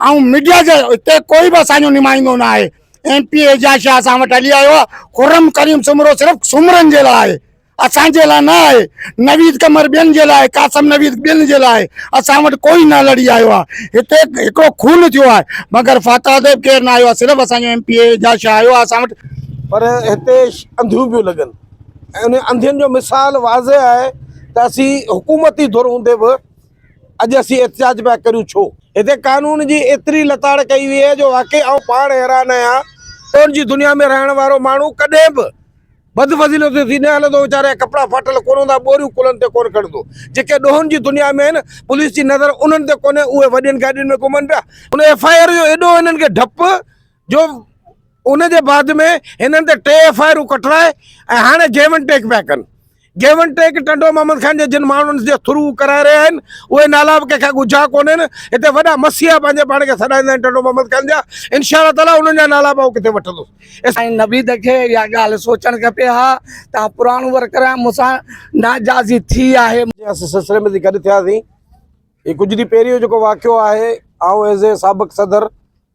آئون ميڊيا جي اتي ڪوئي به اسان جو نمائندو نه آهي ايم پي اعجاز شاهه اسان وٽ هلي آيو آهي خرم ڪريم سومرو صرف سومرن جي لاء آهي اسان جي لاء نه آهي نويد قمر ٻين جي لاء قاسم نويد ٻين جي لاء اسان وٽ ڪوئي نه لڙي آيو آهي هتي هڪڙو خون ٿيو آهي مگر فاتح اديب ڪير نه آيو آهي صرف اسان جو ايم پي اعجاز شاهه آيو آهي اسان وٽ پر هتي انڌيون پيون لڳن ۽ انهن انڌين جو مثال واضح آهي ته اسين حڪومتي ڌر هوندي به اڄ اسين احتجاج پيا ڪريون ڇو؟ هتي قانون جي ايتري لتاڙ ڪئي وئي آهي جو واقعي آئون پاڻ حيران آهيان. ڪون جي دنيا ۾ رهڻ وارو ماڻهو ڪڏهن به بدفضيلتيون ٿي نه هلندو ويچاري جا ڪپڙا ڦاٽل ڪون هوندا ٻوريون ڪلهن تي ڪون کڻندو. جيڪي ڏوهن جي دنيا ۾ آهن پوليس جي نظر انهن تي ڪونهي اهي وڏين گاڏين ۾ گهمن پيا. هن ايف آء آر جو ايڏو هنن کي ڊپ. جو ان جي بعد ۾ هنن تي ٽي ايف آء آرون ڪٽرائي ۽ هاڻي گيو اينڊ ٽيڪ پيا ڪن give and take Tando Muhammad Khan جي جن ماڻهن جي ٿرو ڪرائي رهيا آهن اهي نالا به ڪنهن کان ڳجها ڪونهن هتي وڏا مسيحا پنهنجي پاڻ کي سڏائيندا آهن ٽنڊو محمد خان جا انشاء الله تعاليٰ انهن جا نالا به آئون ڪٿي وٺندس سائين نويد کي اها ڳالهه سوچڻ کپي ها تان پراڻو ورڪر آهي مون سان ناجازي ٿي آهي اسين سلسلي ۾ گڏ ٿياسين هي ڪجهه ڏينهن پهرين جو جيڪو واقعو آهي آئون ايز اي سابق صدر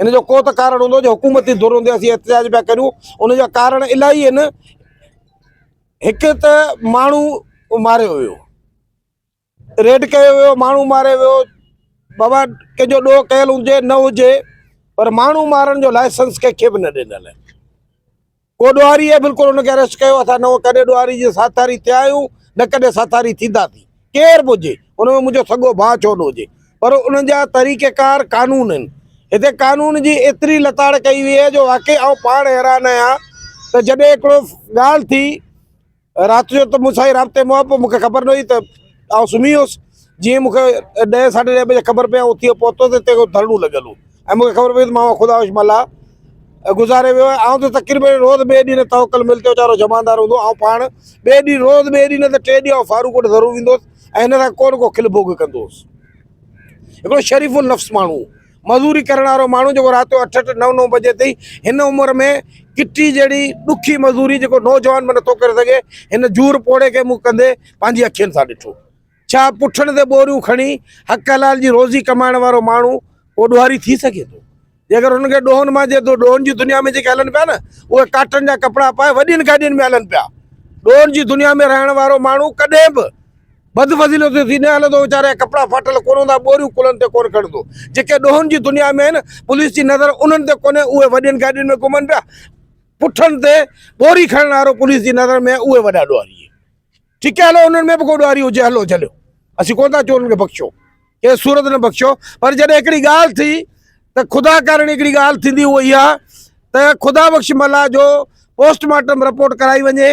ان جو ڪو ته ڪارڻ هوندو جو حڪومتي ڌر هوندي اسين احتجاج پيا ڪريون ان جا ڪارڻ الاهي آهن هڪ ته ماڻهو ماريو ويو ريڊ ڪيو ويو ماڻهو ماري ويو بابا ڪنهن جو ڏوهه ڪيل هجي نه هجي پر ماڻهو مارڻ جو لائسنس ڪنهن کي به نه ڏنل ڪو ڏوهاري اهي بلڪل ان کي اريسٽ ڪيو اسان نه ڪڏهن ڏوهاري جي ساٿاري ٿيا آهيون نه ڪڏهن ساٿاري ٿينداسين ڪير به هجي ان ۾ منهنجو سڳو ڀاء ڇو نه هجي پر انهن جا طريقه ڪار قانون آهن هتي قانون جي ايتري لتاڙ ڪئي وئي آهي جو واقعي آئون پاڻ حيران آهيان ته جڏهن هڪڙو ڳالهه ٿي رات جو ته مون سان رابطي مئو پئو مون کي خبر نه هئي ته آئون سمهي ويس جيئن مون کي ڏهه ساڍي ڏهه بجي خبر پئي آئون اتي پهتو ته اتي ڌرڻو لڳل هو ۽ مون کي خبر پئي ته ماما خدا هوش ملا گذاري ويو آهي آئون ته تقريبن روز ٻئي ڏينهن توڪل مل تي ويچارو جمعدار هوندو آئون پاڻ ٻئي ڏينهن روز ٻئي ڏينهن ته ٽي ڏينهن فاروق وٽ ضرور ويندو هوس ۽ هن سان ڪو نه ڪو کل ڀوڳ ڪندو هوس هڪڙو شريف النفس ماڻهو مزوري ڪرڻ وارو ماڻهو جيڪو رات جو اٺ اٺ نو نو بجي تائين هن عمر ۾ ڪٽي جهڙي ڏکي مزوري جيڪو نوجوان به نٿو ڪري سگهي هن جور پوڙهي کي مون ڪندي پنهنجي اکين سان ڏٺو ڇا پٺن تي ٻوريون کڻي حق حلال جي روزي ڪمائڻ وارو ماڻهو ڪو ڏوهاري ٿي سگهي ٿو جيڪر هن کي ڏوهن مان جي ڏوهن جي دنيا ۾ جيڪي هلن پيا نه اهي ڪاٽن جا ڪپڙا پائي وڏين گاڏين ۾ هلن پيا ڏوهن جي دنيا ۾ رهڻ وارو ماڻهو ڪڏهن به بد فضيلو ٿيو ٿي نه هلندو ويچاري جا ڪپڙا ڦاٽل ڪونه هوندا ٻوريون ڪلهن تي ڪونه کڻندو جيڪي ڏوهن جي دنيا ۾ آهن پوليس جي نظر انهن تي ڪونهي اهي وڏين گاڏين ۾ گهمن پيا پٺن تي ٻوري کڻڻ وارو پوليس جي نظر ۾ اهي وڏا ڏوهاري آهن ٺيڪ آهي هلو انهن ۾ به ڪو ڏوهاري هجي هلو جهليو اسين ڪونه ٿا چون کي بخشو ڪنهن صورت نه بخشو پر جڏهن هڪڙي ڳالهه ٿي ته خدا ڪارڻ هڪڙي ڳالهه ٿيندي اها اها ته خدا بخش ملا جو پوسٽ مارٽم رپورٽ ڪرائي وڃي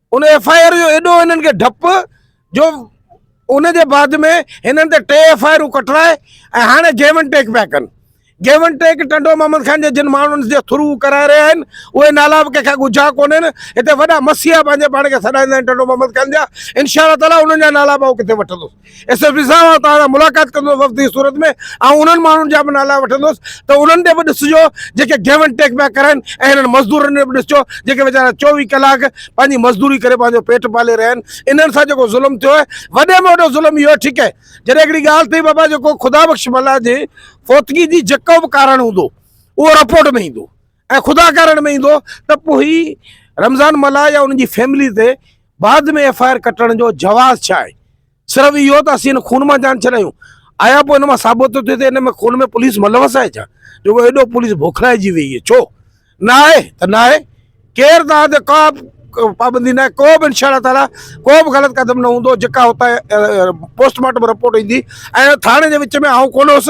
ان ايف آء آر جو ايڏو هنن کي ڊپ جو ان جي بعد ۾ هنن تي ٽي ايف آء آرون ڪٽرائي ۽ هاڻي گيو اينڊ ٽيڪ پيا ڪن give and take Tando Muhammad Khan جي جن ماڻهن جي ٿرو ڪرائي رهيا آهن اهي نالا به ڪنهن کان ڳجها ڪونهن هتي وڏا مسيحا پنهنجي پاڻ کي سڏائيندا آهن ٽنڊو محمد خان جا انشاء الله تعاليٰ انهن جا نالا به آئون ڪٿي وٺندس ايس ايس پي صاحب آئون توهان سان ملاقات ڪندس وفد جي صورت ۾ آئون انهن ماڻهن جا به نالا وٺندس ته انهن تي به ڏسجو جيڪي گيو اينڊ ٽيڪ پيا ڪرائين ۽ هنن مزدورن تي به ڏسجو جيڪي ويچارا چوويهه ڪلاڪ پنهنجي مزدوري ڪري پنهنجو پيٽ پالي رهيا آهن انهن سان جيڪو ظلم ٿيو آهي وڏي ۾ وڏو ظلم اهو آهي ٺيڪي جڏهن هڪڙي ڳالهه ٿي بابا جيڪو خدا بخش ملاح جي فوتگي جي جيڪو به ڪارڻ هوندو اهو رپورٽ ۾ ايندو ۽ خدا ڪارڻ ۾ ايندو ته پوء هي رمضان ملاح يا انهن جي فيملي تي بعد ۾ ايف آء آر ڪٽڻ جو جواز ڇا آهي صرف اهو ته اسين خون مان جان ڇڏايون آيا پوء ان مان ثابت ٿو ٿئي ته ان ۾ خون ۾ پوليس ملوث آهي ڇا جو ڪو ايڏو پوليس بوکلائجي ويئي آهي ڇو نه آهي ته نه آهي ڪير توهان تي ڪا پابندي نه آهي ڪو به انشاء الله تعالی ڪو به غلط قدم نه هوندو جيڪا هتان پوسٽ مارٽم رپورٽ ايندي ۽ ٿاڻي جي وچ ۾ آئون ڪونه هوس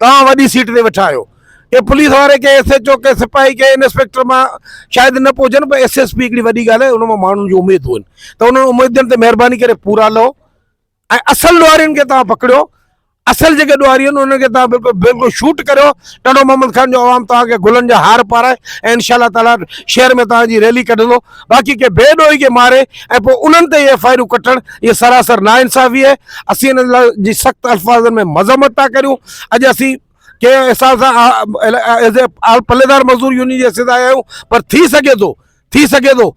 توهان وڏي سيٽ تي ويٺا آهيو. ڪنهن پوليس واري، ڪنهن ايس ايڇ او، ڪنهن سپاهي، ڪنهن انسپيڪٽر مان شايد نه به هجن پر ايس ايس پي هڪڙي وڏي ڳالهه آهي ان مان ماڻهن جون اميدون آهن ته انهن اميدن تي مهرباني ڪري پورا لهو ۽ اصل ڏوهارين کي توهان پڪڙيو اصل جيڪي ڏوهاري آهن انهن کي توهان بلڪل بلڪل شوٽ ڪريو ٽنڊو محمد خان جو عوام توهان کي گلن جا هار پارائي ۽ انشاء الله تعاليٰ شهر ۾ توهان جي ريلي ڪڍندو. باقي ڪنهن بي ڏوهي کي ماري ۽ پوء انهن تي اهي ايف آء آرون ڪٽڻ اهي سراسر ناانصافي آهي اسين انهن لاء جي سخت الفاظن ۾ مذمت ٿا ڪريون اڄ اسين ڪنهن احساس سان ايز اي آل پليدار مزدور يونين جي حيثيت آيا آهيون پر ٿي سگهي ٿو ٿي سگهي ٿو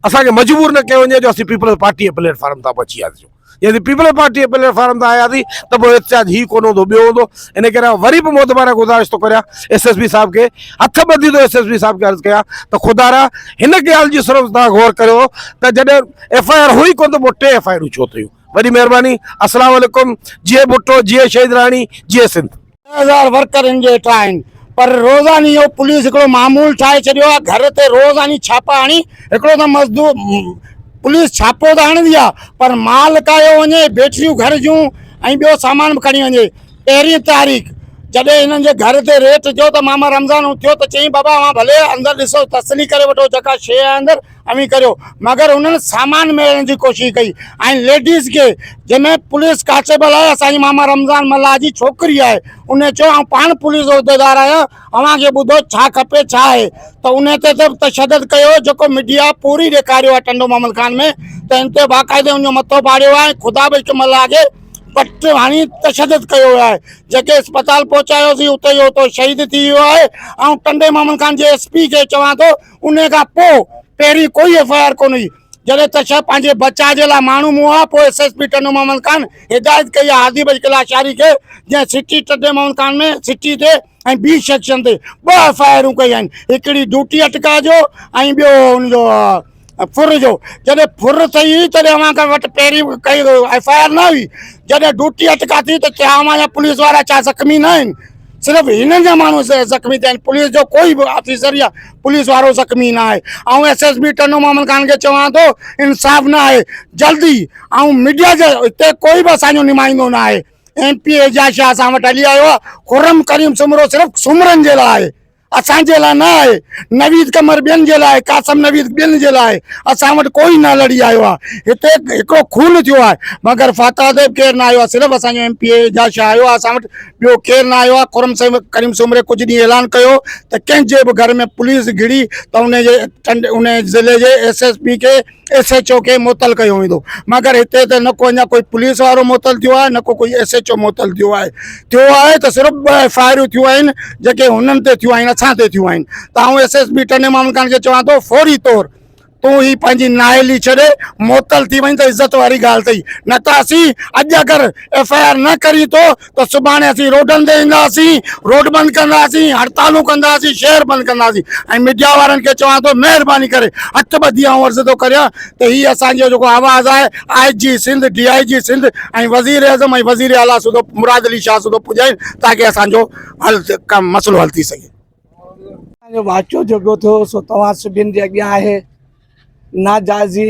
اسان کي مجبور نه ڪيو وڃي جو اسين پيپلز پارٽي جي پليٽ فارم تان به اچي وياسيون جي اسين پيپلز پارٽي جي پليٽ فارم تان آياسين ته پوء احتجاج هي ڪونه هوندو ٻيو هوندو ان ڪري آئون وري به معتبرانه گذارش ٿو ڪريان ايس ايس پي صاحب کي هٿ ٻڌي ٿو ايس ايس پي صاحب کي عرض ڪيان ته خدارا هن ڳالهه جي صرف تان غور ڪريو ته جڏهن ايف آء آر هئي ڪونه ته پوء ٽي ايف آء آرون ڇو ٿيون وڏي مهرباني السلام عليڪم جيئي ڀٽو جيئي شهيد راڻي جيئي سنڌ ڏهه هزار ورڪر ان جي هيٺان آهن پر روزاني اهو پوليس هڪڙو معمول ٺاهي ڇڏيو آهي گهر تي روزاني ڇاپا هڻي هڪڙو ته مزدور پوليس ڇاپو ته هڻندي آهي پر مال ڪاهيو وڃي بيٽريون گهر جون ۽ ٻيو سامان به کڻي وڃي پهرين تاريخ جڏهن هنن جي گهر تي ريٽ جو ته ماما رمضان ٿيو ته چيائين بابا اوهان ڀلي اندر ڏسو تسلي ڪري وٺو جيڪا شيء آهي اندر اوهين ڪريو مگر انهن سامان ميڙڻ جي ڪوشش ڪئي ۽ ليڊيز کي جنهن ۾ پوليس ڪانسٽيبل آهي اسان جي ماما رمضان ملاح جي ڇوڪري آهي ان چيو آئون پاڻ پوليس عهديدار آهيان اوهان کي ٻڌو ڇا کپي ڇا آهي ته ان تي ته تشدد ڪيو جيڪو ميڊيا پوري ڏيکاريو آهي ٽنڊو محمد خان ۾ ته ان تي باقاعدي ان جو مٿو ڦاڙيو آهي ۽ خدا به هڪ ملاح کي پٽ هڻي تشدد ڪيو ويو آهي جيڪي اسپتال پهچايوسين اتي جو اتو شهيد ٿي ويو آهي آئون ٽنڊي محمد خان جي ايس پي کي چوان ٿو انهيء کان پوء پهرين ڪوئي ايف آء آر ڪونه هئي. جڏهن ته شيخ پنهنجي بچاء جي لاء ماڻهو موهيا ها، پوء S S P Tando Muhammad Khan هدايت ڪئي ها هادي بخش ڪلاشاري کي، جنهن سٽي ٽنڊي محمد خان ۾ سٽي تي ۽ ٻين سيڪشن تي ٻه ايف آء آرون ڪئي آهن، هڪڙي ڊوٽي اٽڪاء جو ۽ ٻيو ان جو ڦر جو. جڏهن ڦر ٿئي هئي، تڏهن اوهان وٽ پهرين به ڪائي ايف آء آر نه هئي. جڏهن ڊوٽي اٽڪاء ٿي ته ڇا اوهان جا پوليس وارا ڇا زخمي نه آهن؟ صرف هنن جا ماڻهو زخمي ٿيا آهن پوليس جو ڪوئي به آفيسر يا پوليس وارو زخمي نه آهي آئون S S P Tando Muhammad Khan کي چوان ٿو انصاف نه آهي جلدي آئون ميڊيا جي هتي ڪوئي به اسانجو نمائندو نه آهي ايم پي اعجاز شاهه اسان وٽ هلي آيو آهي خرم ڪريم سومرو صرف سومرن جي لاء آهي اسان جي لاء نه آهي، نويد قمر ٻين جي لاء، قاسم نويد ٻين جي لاء، اسان وٽ ڪوئي نه لڙي آيو آهي، هتي هڪڙو خون ٿيو آهي، مگر فاتح صاحب ڪير نه آيو آهي، صرف اسان جو M P A Ijaz Shah آيو آهي اسان وٽ، ٻيو ڪير نه آيو آهي، خرم سيد ڪريم سومري ڪجهه ڏينهن اعلان ڪيو هو ته ڪنهن جي به گهر ۾ پوليس گهڙي ته ان جي ٽنڊي ان ضلعي جي ايس ايس پي کي ايس ايڇ او کي معطل ڪيو ويندو مگر هتي ته نه ڪو اڃا ڪوئي پوليس وارو معطل ٿيو آهي نه ڪو ڪوئي ايس ايڇ او معطل ٿيو آهي ٿيو آهي ته صرف ٻه ايف آئي آرون ٿيون آهن جيڪي هنن تي ٿيون آهن اسان تي ٿيون آهن ته آئون ايس ايس بي ٽني مامن خان کي چوان ٿو فوري طور تون هي پنهنجي نااهلي ڇڏي معطل ٿي وڃ ته عزت واري ڳالهه اٿئي نه ته اسين اڄ اگر ايف آئي آر نه ڪرين ٿو ته سڀاڻي اسين روڊن تي اينداسين، روڊ بند ڪنداسين، هڙتالون ڪنداسين، شهر بند ڪنداسين ۽ ميڊيا وارن کي چوان ٿو مهرباني ڪري هٿ ٻڌي آئون عرض ٿو ڪريان ته هي اسان جو جيڪو آواز آهي آء جي سنڌ، ڊي آء جي سنڌ ۽ وزير اعظم ۽ وزير اعليٰ سوڌو مراد علي شاهه سوڌو پڄائين تاڪه اسان جو حل ڪم مسئلو حل ٿي سگهي. اسان جو واقعو جيڪو ٿيو سو توهان سڀين جي اڳيان آهي، ناجائزي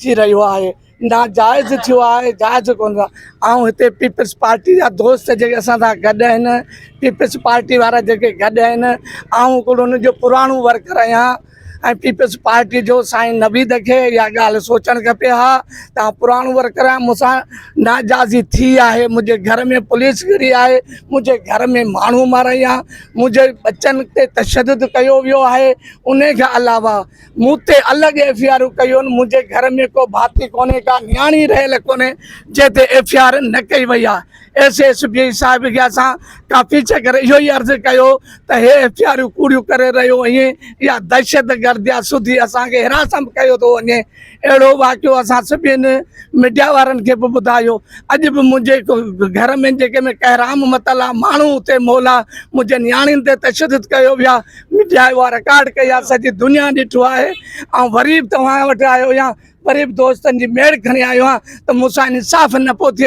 ٿي رهيو آهي نا جائز ٿيو آهي جائز ڪونه آئون هتي پيپلز پارٽي جا دوست جيڪي اسان سان گڏ آهن پيپلز پارٽي وارا جيڪي گڏ آهن آئون هڪڙو ان جو پراڻو ورڪر آهيان ۽ پيپلز پارٽي جو سائين نويد کي اها ڳالهه سوچڻ کپي ها ته آئون پراڻو ورڪر آهيان مون سان ناجائزي ٿي آهي منهنجي گهر ۾ پوليس گهري آهي منهنجي گهر ۾ ماڻهو ماريا منهنجي ٻچن تي تشدد ڪيو ويو آهي ان کان علاوه مون تي الڳ ايف اي آر ڪيون منهنجي گهر ۾ ڪو ڀاتي ڪونهي ڪا نياڻي رهيل ڪونهي جنهن تي ايف اي آر نه ڪئي وئي آهي ايس ايس پي صاحب کي اسان ڪافي چڪر اهو ئي عرض ڪيو ته هي ايف اي آرون ڪوڙيون ڪري رهيو آهين اها دهشت گردي آهي سڌي اسان کي حراسم ڪيو ٿو وڃي اهڙو واقعو اسان سڀين ميڊيا وارن کي به ٻڌايو اڄ به منهنجي گهر ۾ جيڪي ۾ ڪهرام متل آهي ماڻهو اتي مول آهي منهنجي نياڻين تي تشدد ڪيو ويو آهي ميڊيا اها رڪارڊ ڪئي آهي سڄي دنيا ڏٺو آهي آئون وري به توهان وٽ آيو آهيان وري به دوستن جي ميڙ کڻي آيو آهيان ته مون سان انصاف نه پيو ٿئي